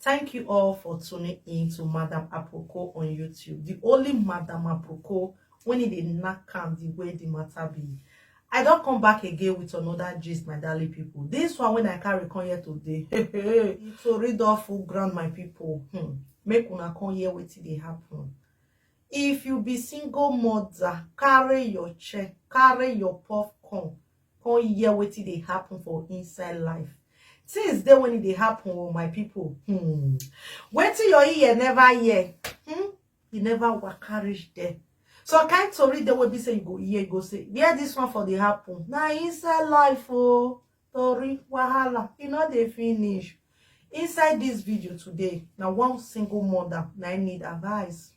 Thank you all for tuning in to Madam Aproko on YouTube. The only Madam Aproko when it dey knack am the way the matter be. I don't come back again with another gist, my darling people. This one when I carry come here today. Hey, hey, hey. It's a read off full ground, my people. Hmm. Make una come here wait till they happen. If you be single mother, carry your check, carry your popcorn. Come hear wetin dey happen for inside life. Things dey when e dey happen oh my people. Hmm. Wetin your ear never hear. Hmm. You never waka reach there. Some kind tori dey wey be say you go hear, you go say, where this one for dey happen? Na inside life oh. Tori, wahala, e no dey finish. Inside this video today, na one single mother na im need advice.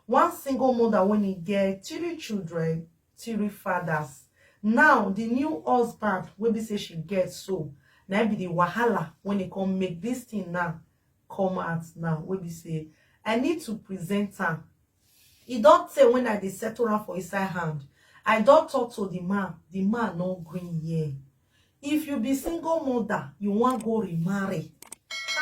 One single mother wey need get three children three fathers now the new husband wey be say she get so na be the wahala when e come make this thing now come out now wey be say i need to present am e don tey when i dey settle am for inside hand i don talk to the man the man no gree hear if you be single mother you wan go remarry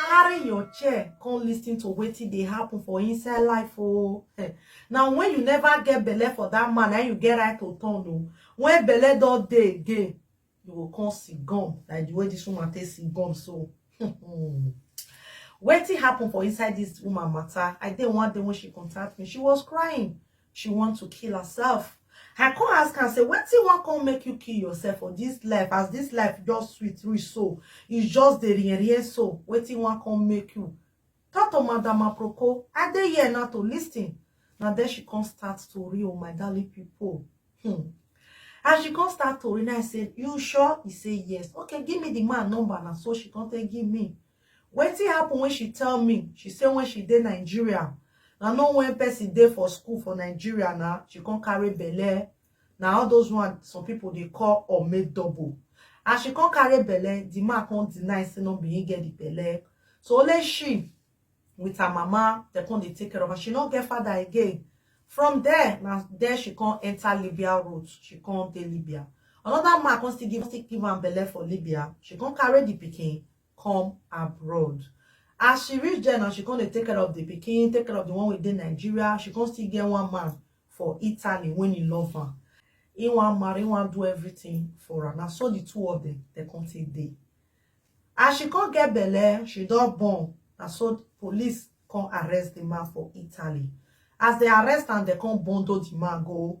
carry your chair come listen to wetin dey happen for inside life oh eh. now when you never get belle for that man and you get right to turn oh when belle don dey again you go come see gum like the way this woman take see gum so wetin happen for inside this woman matter i dey one day when she contact me she was crying she want to kill herself i come ask am say wetin wan come make you kill yourself for this life as this life just sweet reach so e just dey rien rien so wetin wan come make you talk to madam aproko i dey here now to listen na then she come start tori o my darling people hmm. and she come start tori now i say you sure he say yes okay give me the man number na so she come take give me Wetin happen when she tell me? She say when she dey Nigeria, na no when person dey for school for Nigeria na, she come carry belle. Na all those one some people dey call or make double. As she come carry belle, the man come deny say no be him get the belle. So only she with her mama, they come dey take care of her. She no get father again. From there, na there she come enter Libya route. She come dey Libya. Another man come still give, still give am belle for Libya. She come carry the pikin, come abroad. As she reach there now, she come dey take care of the pikin, take care of the one wey dey Nigeria. She come still get one man for Italy when he love am. He wan marry, he wan do everything for am. Na so the two of them, they come take dey. As she come get belle, she don born. Na so police come arrest the man for Italy. As they arrest am, they come bundle the man go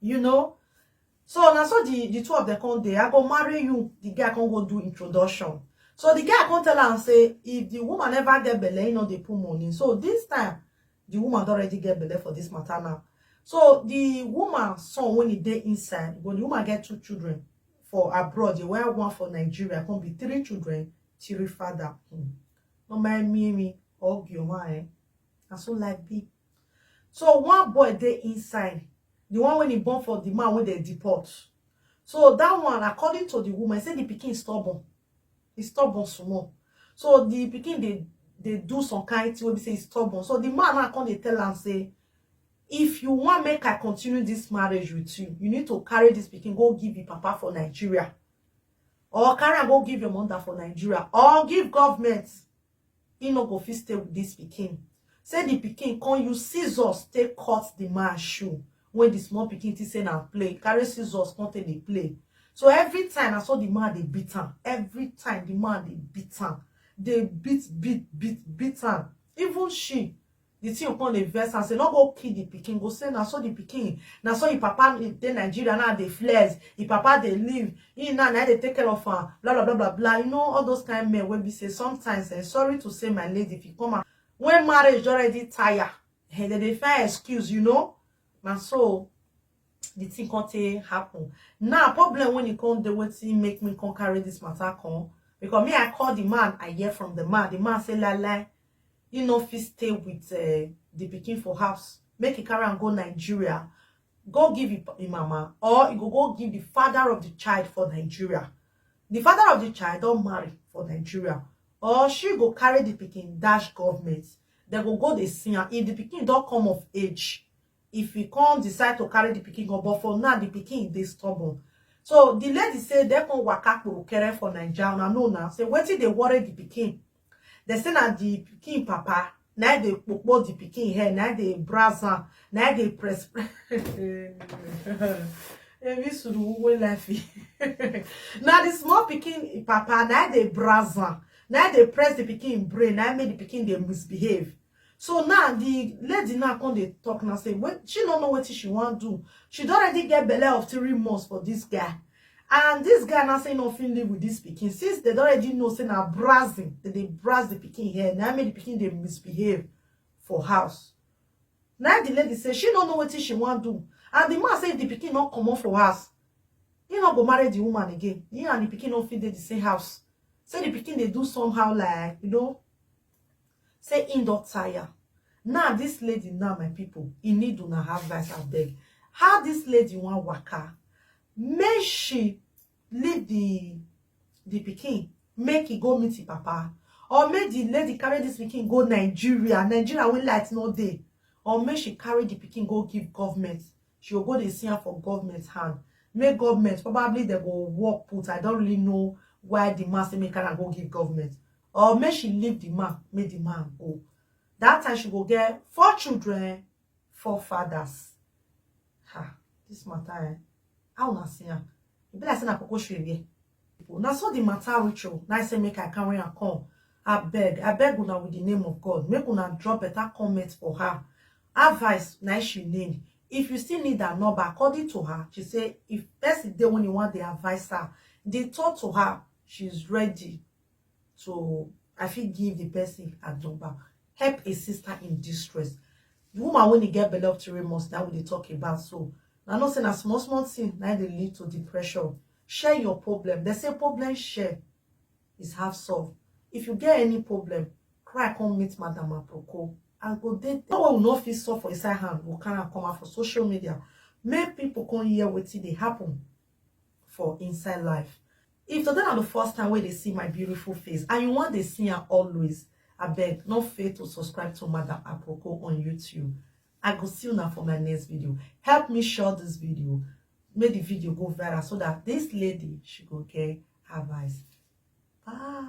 you know so na so the the two of them come dey i go marry you the guy come go do introduction so the guy come tell am say if the woman never get belle he no dey put money so this time the woman don already get belle for this matter now so the woman son when he dey inside when the woman get two children for abroad the one one for nigeria come be three children three father hmm. no mind me me hug your man eh na so life be So one boy dey inside, the one when he born for the man when they deport. So that one, according to the woman, say the pikin stubborn. He stubborn small. So the pikin they they do some kind thing wey be say he's stubborn. So the man now come dey tell am say, if you want make I continue this marriage with you, you need to carry this pikin go give your papa for Nigeria. Or carry am go give your mother for Nigeria. Or give government. he no go fit stay with this pikin say the pikin come use scissors take cut the man shoe when the small pikin think say na play carry scissors come take dey play so every time na so the man dey beat am every time the man dey beat am dey beat beat beat beat am even she the thing come dey vex am say no go kill the pikin go say na so the pikin na so him papa dey nigeria now dey flex him papa dey live him now na dey take care of am blah blah blah blah blah you know all those kind men wey be say sometimes eh, sorry to say my lady if you come out when marriage don already tire eh, dem dey find excuse you know na so the thing come take happen now problem when e come dey wetin make me come carry this matter come because me i call the man i hear from the man the man say lai lai he no fit stay with uh, the pikin for house make he carry am go nigeria go give him mama or he go go give the father of the child for nigeria the father of the child don marry for nigeria or she go carry the pikin dash government dem go go dey see am if the pikin don come of age if he come decide to carry the pikin go but for now the pikin dey stubborn so the lady say dem come waka kporokere for naija una know now say wetin dey worry the pikin Dem say na the pikin papa na im dey kpokpo the pikin hair, na im dey browse am, na im dey press press. Ebi suru uwe lafi. Na the small pikin papa na im dey browse am, na im dey press the pikin brain, na im make the pikin dey misbehave. So now the lady now come dey talk now say when she no know wetin she wan do. She don already get belle of three months for this guy. And this guy now say no fit live with this pikin. Since they don already know say na browsing, they dey browse the pikin hair. Na make the pikin dey misbehave for house. Now the lady say she no know wetin she wan do. And the man say if the pikin no comot for house, he no go marry the woman again. He and the pikin no fit dey the same house. Say the pikin dey do somehow like, you know, Say him don tire now this lady now my people he need una advice abeg how this lady wan waka make she leave the the pikin make he go meet him papa or make the lady carry this pikin go Nigeria Nigeria wey light no dey or make she carry the pikin go give government she go go dey see am for government hand make government probably dem go work put I don't really know why the man say make carry am go give government or make she leave the man make the man go that time she go get four children four fathers ha this matter eh how una see am e be like say na koko shoe wear na so the matter reach o na I say make i carry am come abeg abeg una with the name of god make una drop better comment for her advice na she need if you still need her number according to her she say if person dey when you want the advice her dey talk to her she's ready So I fit give the person a number. Help a sister in distress. The woman when he get belle of three months, that we dey talk about. So I know say na small small thing na dey lead to depression. Share your problem. They say problem share is half solved. If you get any problem, cry come meet Madam Aproko. I go dey no one will not fit solve for inside hand. We carry am come out for social media. Make people come hear wetin dey happen. for inside life if today na the first time wey dey see my beautiful face and you wan dey see am always abeg no fail to subscribe to madam aproko on youtube i go see una for my next video help me share this video make the video go viral so that this lady she go get advice bye